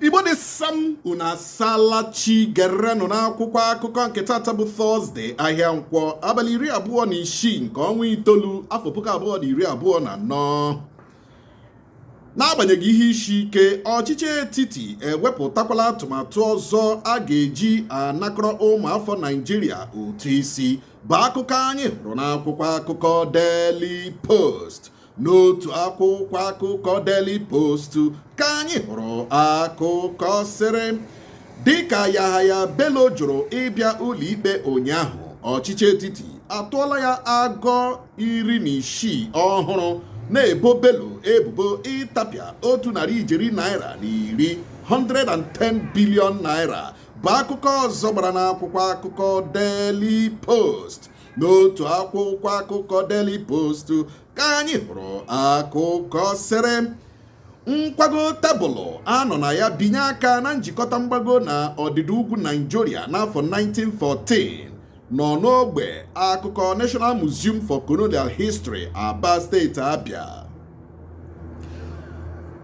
igbo dị sam unu asala chi gerenụ n'akwụkwọ akụkọ nke tata bụ tọzde ahịa nkwọ abalị iri abụọ na isii nke ọnwa itoolu afọ puku abụọ na iri abụọ na anọ n'agbanyeghị ihe isi ike ọchịchị etiti ewepụtakwala atụmatụ ọzọ a ga-eji anakọrọ ụmụafọ naijiria ụtụ isi bụ akụkọ anyị hụrụ n'akwụkwọ akụkọ Daily Post n'otu akwụkwọ akụkọ Daily Post ka anyị hụrụ akụkọ sịrị dịka Yahaya Bello jụrụ ịbịa ụlọikpe ụnyaahụ ọchịchị etiti atụọla ya agọ iri na isii ọhụrụ na-ebo Bello ebubo ịtapịa otu narị ijeri naira na iri 110 billion naira bụ akụkọ ọzọ gbara n'akwụkwọ akụkọ Daily Post n'otu akwụkwọ akụkọ Daily Post ka anyị hụrụ akụkọ sịrị nkwago tebụlụ a nọ na ya binye aka na njikọta mgbago na ọdịda ugwu Nigeria n'afọ 1914 nọ n'ogbe akụkọ National Museum for Colonial History Aba steeti Abia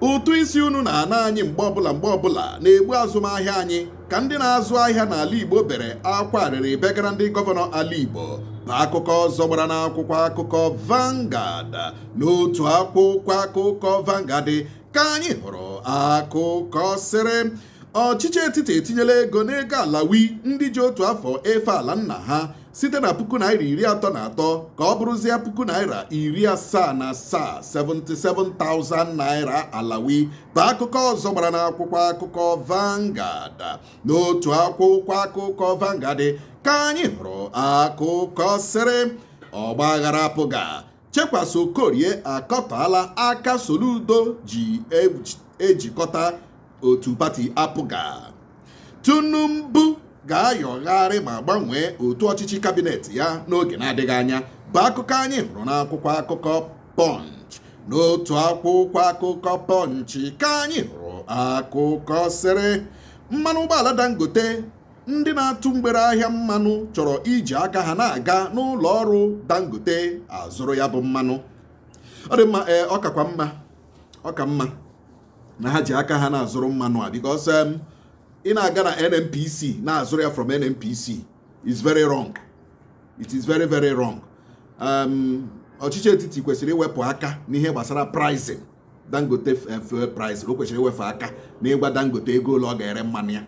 ụtụ isi unu na-ana anyị mgbe ọbụla mgbe ọbụla na-egbu azụmahịa anyị ka ndị na-azụ ahịa n'ala Igbo bere akwa arịrị begara ndị gọvanọ ala Igbo bụ akụkọ ọzọ gbara n'akwụkwọ akụkọ Vanguard n'otu akwụkwọ akụkọ Vanguard ka anyị hụrụ akụkọ sịrị ọchịchị etiti etinyela ego n'ego alawi ndị ji otu afọ efe ala nna ha site na puku naira iri atọ na atọ ka ọ bụrụzie puku naira iri asaa na asaa 77,000 naira alawi bụ akụkọ ọzọ gbara n'akwụkwọ akụkọ Vanguard n'otu akwụkwọ akụkọ Vanguard ka anyị hụrụ akụkọ sịrị ọgbaghara APGA Chekwas Okorie akọtọọla aka Soludo ji ejikọta otu pati APGA Tinubu ga-ayọgharị ma gbanwee otu ọchịchị kabinet ya n'oge na-adịghị anya bụ akụkọ anyị hụrụ n'akwụkwọ akụkọ Punch n'otu akwụkwọ akụkọ Punch ka anyị hụrụ akụkọ sịrị mmanụ ụgbọala Dangote ndị na-atụ mgbere ahịa mmanụ chọrọ iji aka ha na-aga n'ụlọ ọrụ Dangote azụrụ ya bụ mmanụ ọ dị mma ee ọ kakwa mma ọ ka mma na ha ji aka ha na-azụrụ mmanụ a because um, ị na-aga na NNPC na-azụrụ ya from NNPC is very wrong it is very very wrong um, ọchịchị etiti kwesịrị iwepụ aka n'ihe gbasara pricing dangote eh, fuel price o kwesịrị iwefụ aka na ịgwa dangote ego ole ọ ga-ere mmanụ ya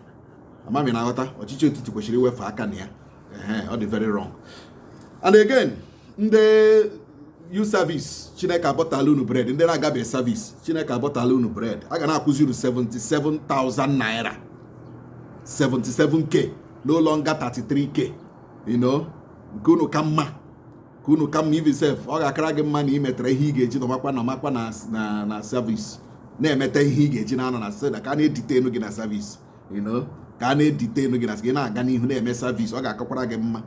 ama m ị na-aghọta ọchịchị etiti kwesịrị iwefụ aka na ya ọ dị very wrong and again ndị youth service chineke abọtala unu bread ndị na-agabeghị service chineke abọtala unu bread a ga na-akwụzi unu 77,000 naira 77k no longer 33k you know nke unu ka mma nke unu ka mma even sef ọ ga-akara gị mma na ị metara ihe ị ga-eji nọmakwa nọmakwa na na na service na-emeta ihe ị ga-eji na-anọ na seda ka a na-edetain gị na service you know ka a na-edetain gị na gị na-aga n'ihu na-eme service ọ ga-akakwara gị mma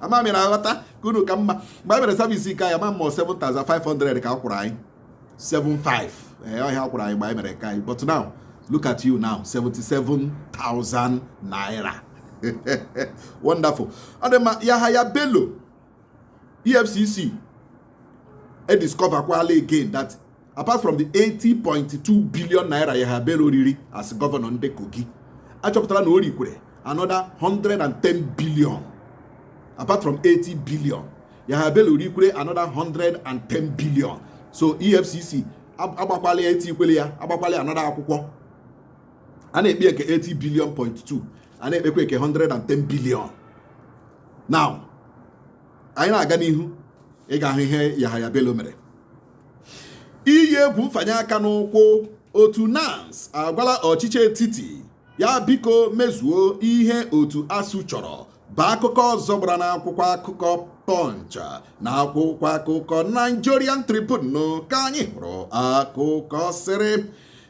ama m ị na-aghọta nke unu ka mma mgbe anyị mere service nke anyị ama m ma 7500 ka a kwụrụ anyị 75 ee ọ ihe a kwụrụ anyị mgbe anyị mere nke anyị but now look at you now 77,000 naira wonderful ọ dị mma Yahaya Bello EFCC e discover kwala again that apart from the 80.2 billion naira Yahaya Bello riri as governor ndị Kogi achọpụtara na o rikwere another 110 billion apart from 80 billion Yahaya Bello rikwere another 110 billion so efcc agbakwala ya etikwele ya agbakwala ya another akwụkwọ a na-ekpe nke 80 billion point 2 a na-ekpekwa nke 110 billion now anyị na-aga n'ihu ị ga-ahụ ihe Yahaya Bello mere iyi egwu mfanye aka n'ụkwụ otu NANS agwala ọchịchị etiti ya biko mezuo ihe otu ASUU chọrọ bụ akụkọ ọzọ gbara n'akwụkwọ akụkọ Punch na akwụkwọ akụkọ Nigerian Tribune ka anyị hụrụ akụkọ sịrị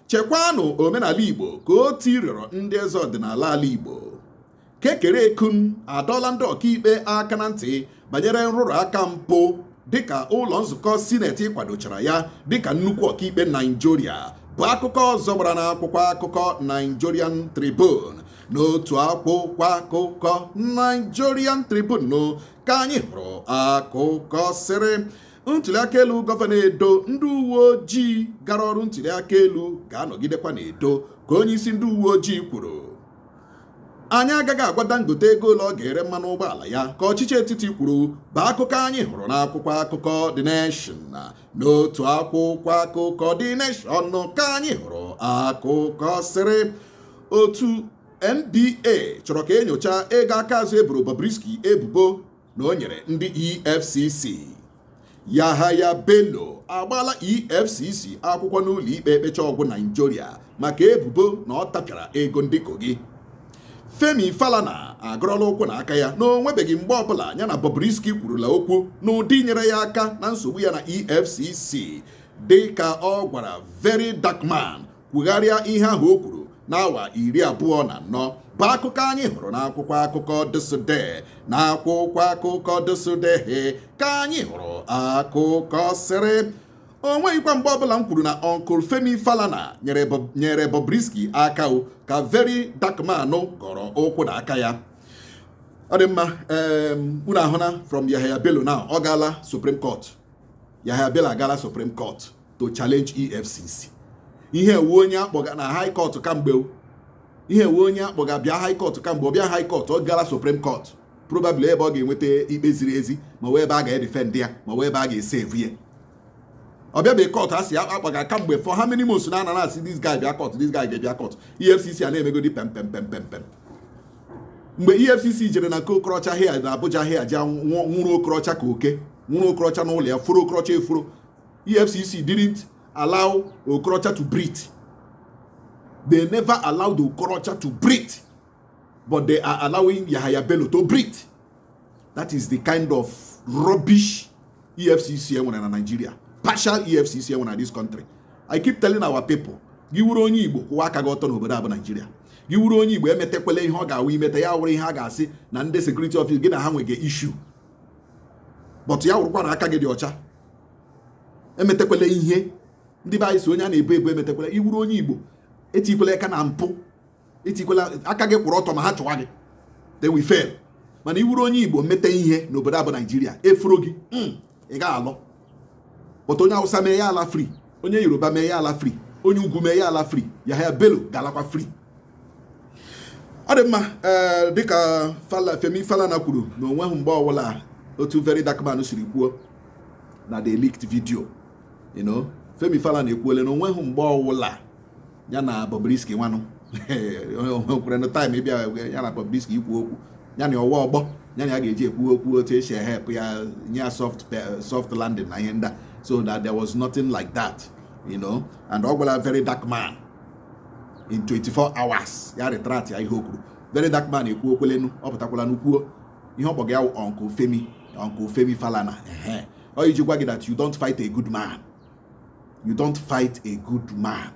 chekwanụ omenala Igbo ka otu rịọrọ ndị eze ọdịnala ala Igbo Kekere Ekun adọọla ndị ọkaikpe aka na ntị banyere nrụrụ aka mpụ dịka ụlọ nzukọ sineti kwadochara ya dịka nnukwu ọkaikpe Naijiria bụ akụkọ ọzọ gbara n'akwụkwọ akụkọ Nigerian Tribune n'otu akwụkwọ akụkọ Nigerian Tribune ka anyị hụrụ akụkọ sịrị ntuliaka elu gọvanọ Edo ndị uwe ojii gara ọrụ ntuliaka elu ga-anọgidekwa n'Edo ka onye isi ndị uwe ojii kwuru anyị agaghị agwa Dangote ego ole ọ ga-ere mmanụ ụgbọala ya ka ọchịchị etiti kwuru bụ akụkọ anyị hụrụ n'akwụkwọ akụkọ The Nation n'otu akwụkwọ akụkọ The Nation ka anyị hụrụ akụkọ sịrị otu NBA chọrọ ka enyocha ego aka azụ eboro Bobrisky ebubo na o nyere ndị EFCC Yahaya Bello agbaala EFCC akwụkwọ n'ụlọ ikpe ekpecha ọgwụ Naijiria maka ebubo na ọ tapịara ego ndị Kogi Femi Falana agọrọla ụkwụ na aka ya na o nwebeghị mgbe ọbụla ya na Bobrisky kwurula okwu n'ụdị nyere ya aka na nsogbu ya na EFCC dị ka ọ gwara Very Dark Man kwugharịa ihe ahụ o kwuru n'awa iri abụọ na anọ bụ akụkọ anyị hụrụ n'akwụkwọ akụkọ ThisDay na akwụkwọ akụkọ ThisDay ka anyị hụrụ akụkọ sịrị o nweghịkwa mgbe ọbụla m kwuru na Uncle Femi Falana nyere Bobrisky aka ka Very Dark Man gọrọ ụkwụ na aka ya ọ dị mma unu ahụna from Yahaya Bello na ọ gaala Supreme Court Yahaya Bello agaala Supreme Court to challenge EFCC ihe a wụ onye akpọga na high court kamgbe ihe a wụ onye akpọga bịa high court kamgbe ọ bịa high court ọ gaala supreme court probably ebe ọ ga-enweta ikpe ziri ezi ma ọ wụ ebe a ga-edefend ya ma ọ wụ ebe a ga-esave ya ọ bịabeghị court e si ya akpọga kamgbe for how many months now a na-asị this guy bịa court this guy ga-ebịa court EFCC a na-emegodi pem pem pem pem pem mgbe EFCC jere na nke Okorocha here na Abuja here ji nwụrụ Okorocha ka oke nwụrụ Okorocha n'ụlọ ya furu Okorocha efuru EFCC didn't allow Okorocha to breathe. They never allowed Okorocha to breathe, but they are allowing Yahaya Bello to breathe. That is the kind of rubbish EFCC enwere na Nigeria. Partial EFCC enwere na this country. I keep telling our people, gị wụrụ onye Igbo kwụwa aka gị ọtọ n'obodo a bụ Nigeria. Gị wụrụ onye Igbo emetekwala ihe ọ ga-awụ i meta ya wụrụ ihe a ga-asị na ndị security office gị na ha nwege issue. But ya wụrụkwa na aka gị dị ọcha emetekwala ihe ndị be anyị sị onye a na-ebu ebu emetekwala ị wụrụ onye igbo etikwala aka na mpụ etikwala aka gị kwụrụ ọtọ ma ha chụwa gị they will fail mana ị wụrụ onye igbo mete ihe n'obodo a bụ naijiria efuru gị hmm, ị gaghị alọ but onye awụsa mee ya ala free onye yoruba mee ya ala free onye ugwu mee ya ala free yahaya bello ga-alakwa free ọ dị mma eh, dịka Femi Falana kwuru na onweghị mgbe ọbụla otu Very Dark Man siri kwuo na the leaked video you know Femi Falana ekwuole na onweghị mgbe ọbụla ya na Bobrisky nwanụ kwere na time ịbịa ya na Bobrisky ikwu okwu ya na ọ wụ ọgbọ ya na ya ga-eji ekwu okwu otu esi ehelp ya nye ya soft soft landing na ihe ndị a so that there was nothing like that you know and ọ gwala very dark man in 24 hours ya retract ya ihe o kwuru very dark man ekwuokwelenụ ọ pụtakwalanụ kwuo ihe ọ kpọga ya uncle femi uncle femi falana ehe ọ iji gwa gị that you don't fight a good man you don't fight a good man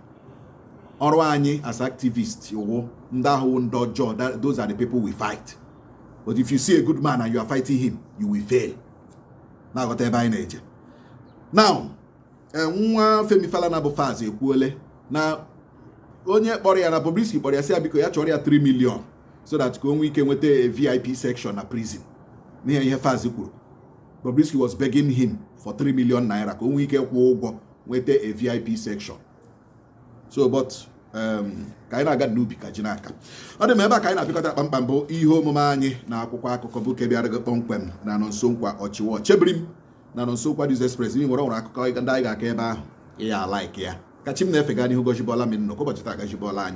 ọrụ anyị as activist wụ ndị ahụ ndị ọjọọ those are the people we fight but if you see a good man and you are fighting him you will fail na-aghọta ebe anyị na-eje now e, nwa Femi Falana bụ Falz ekwuole na onye kpọrọ ya na Bobrisky kpọrọ ya sị ya biko ya chọọrọ ya 3 million so that ka o nwee ike nweta a VIP section na prison n'ihe ihe Falz kwuru Bobrisky was begging him for 3 million naira ka o nwee ike kwụọ ụgwọ nweta a VIP section so but um, ka anyị na-aga n'ubi ka ji na-aka ọ dị m ebe a ka anyị na-apịkọta kpamkpam bụ ihe omume anyị na akwụkwọ akụkọ bụ nke bịara gị kpọmkwem na Nonso Nkwa ọchịwa chebiri m na Nonso Nkwa News Express i nwere o nwere akụkọ ndị anyị ga-aka ebe ahụ ị ya-alike ya ka chi m na-efe gaa n'ihu gọzibọla m nnọkọ ụbọchị taa gọzibọla anyị